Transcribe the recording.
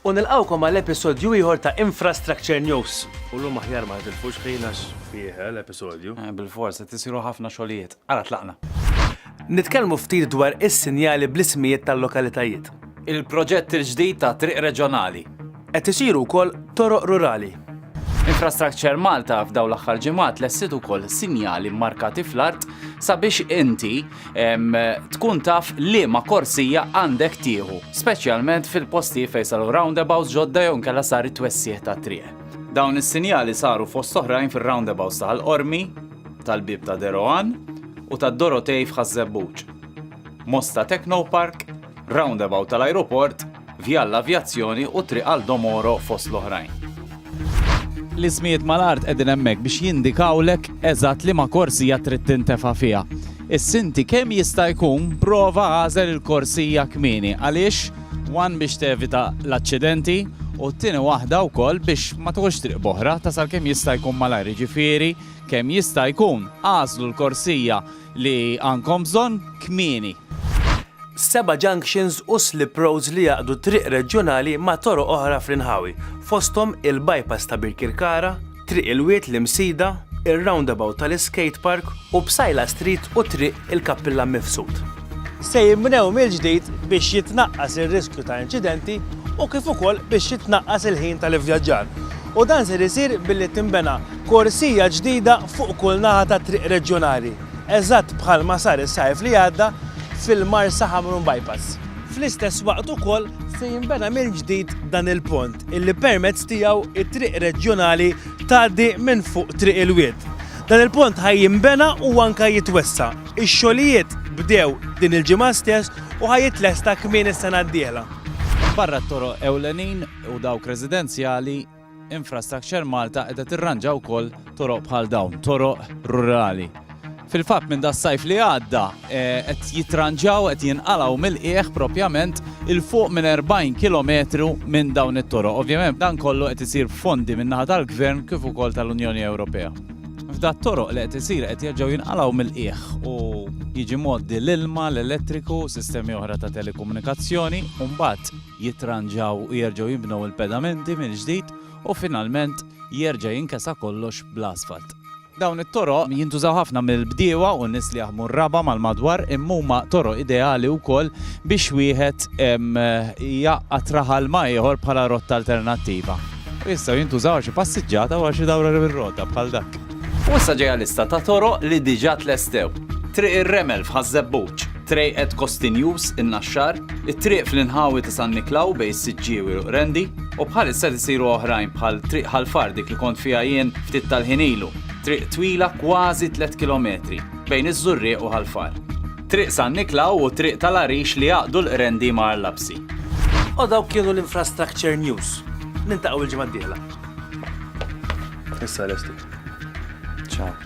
U nilqawkom għal episodju ieħor ta' Infrastructure News. U l-lum aħjar ma tilfux ħin għax fih eh, l-episodju. Eh, Bil-fors, qed isiru ħafna xogħlijiet. Ara tlaqna. Nitkellmu ftit dwar is-sinjali bl-ismijiet tal-lokalitajiet. Il-proġett il-ġdid ta' triq reġjonali. Qed isiru wkoll toroq rurali. Infrastructure Malta f'dawn l-aħħar ġimgħat lestiet ukoll sinjali mmarkati fl-art sabiex inti tkun taf liema korsija għandek tieħu, speċjalment fil-postijiet fejn saru roundabouts ġodda jew inkella sar it-twessigħ tat-triq. Dawn is-sinjali saru fost oħrajn fir-roundabouts ta' Ħal Qormi, tal-Bieb ta' Deroan u tad-Dorotej f'Ħaż-Żebbuġ, Mosta Technopark, roundabout tal-ajruport, Via għall-Avjazzjoni u Triq għal Domoro fost l-oħrajn. L-ismijiet mal-art qegħdin hemmhekk biex jindikawlek eżatt liema korsija trid tintefa' fiha. Is-sinti kemm jista' jkun prova għażel il-korsija kmieni għaliex one biex tevita l-aċċidenti u t-tieni waħda wkoll biex ma tħoġx triq b'oħra tasal kemm jista' jkun malajr jiġifieri kemm jista' jkun għażlu l-korsija li għandkom bżonn kmieni. Seba' junctions u slip roads li jgħaqqdu triq reġjonali ma' toroq oħra fl-inħawi, fosthom il-bypass ta' Birkirkara, Triq il-Wied l-Imsida, ir-roundabout tal-iskate park u Psaila Street u Triq il-Kappillan Mifsud. Se jinbnew mill-ġdid biex jitnaqqas ir-riskju ta' inċidenti u kif ukoll biex jitnaqqas il-ħin tal-ivvjaġġar u dan ser isir billi tinbena Korsija ġdida fuq kull naħa tat-triq reġjonali, eżatt bħalma sar is-Sajf li għadda fil-Marsa Ħamrun Bypass. Fl-istess waqt ukoll se jinbena mill-ġdid dan il-pont illi permezz tiegħu t-triq reġjonali tgħaddi minn fuq Triq il-Wied. Dan il-pont ħa jinbena u anke jitwessa'. Ix-xogħlijiet bdew din il-ġimgħa stess u ħa jitlesta kmieni s-sena d-dieħla. Barra t-toroq ewlenin u dawk residenzjali, Infrastructure Malta qiegħda tirranġa wkoll toroq bħal dawn, toroq rurali. Fil-fatt minn das-sajf li għadda eh, qed jitranġaw qed jinqalgħu mill-qiegħ propjament il fuq minn 40 km minn dawn it-toroq. Ovvjament dan kollu qed isir fondi minn naħa tal-Gvern kif ukoll tal-Unjoni Ewropea. F'dat toroq li qed isir qed jerġgħu jinqalgħu mill-qiegħ u jiġi moddi l-ilma, l-elettriku, sistemi oħra ta' telekomunikazzjoni u mbagħad jitranġaw u jerġgħu jinbnew il-pedamenti mill-ġdid u finalment jerġa' jinkesa kollox bl-asfalt. Dawn it-toroq jintużaw ħafna mill-bdiewa u n-nies li jaħdmu r-raba' mal-madwar imma huma toroq ideali wkoll biex wieħed jgħaqqad raħal ma' ieħor bħala rotta alternattiva. U jistgħu jintużaw għal xi passiġġata u għal xi dawra bir-rota bħal dak. U issa ġejja lista ta' toroq li diġà tlestew. Triq ir-Remel f'Ħaż-Żebbuġ. Trade at Costi News, in-Naxxar, it-triq fl-inħawi ta' San Niklaw bejn is-Siġġiewi u Qrendi, u bħalissa qed isiru oħrajn bħal Triq Ħal Far dik li kont fiha jien ftit tal-ħin ilu, triq twila kważi tliet kilometri bejn iż-Żurrieq u Ħal Far. Triq San Niklaw u Triq tal-Għarix li jgħaqqdu l-Qrendi ma' Arlabsi. U dawk kienu l-Infrastructure News. Niltaqgħu l-ġimgħa d-dieħla. Issa lesti. Ciao.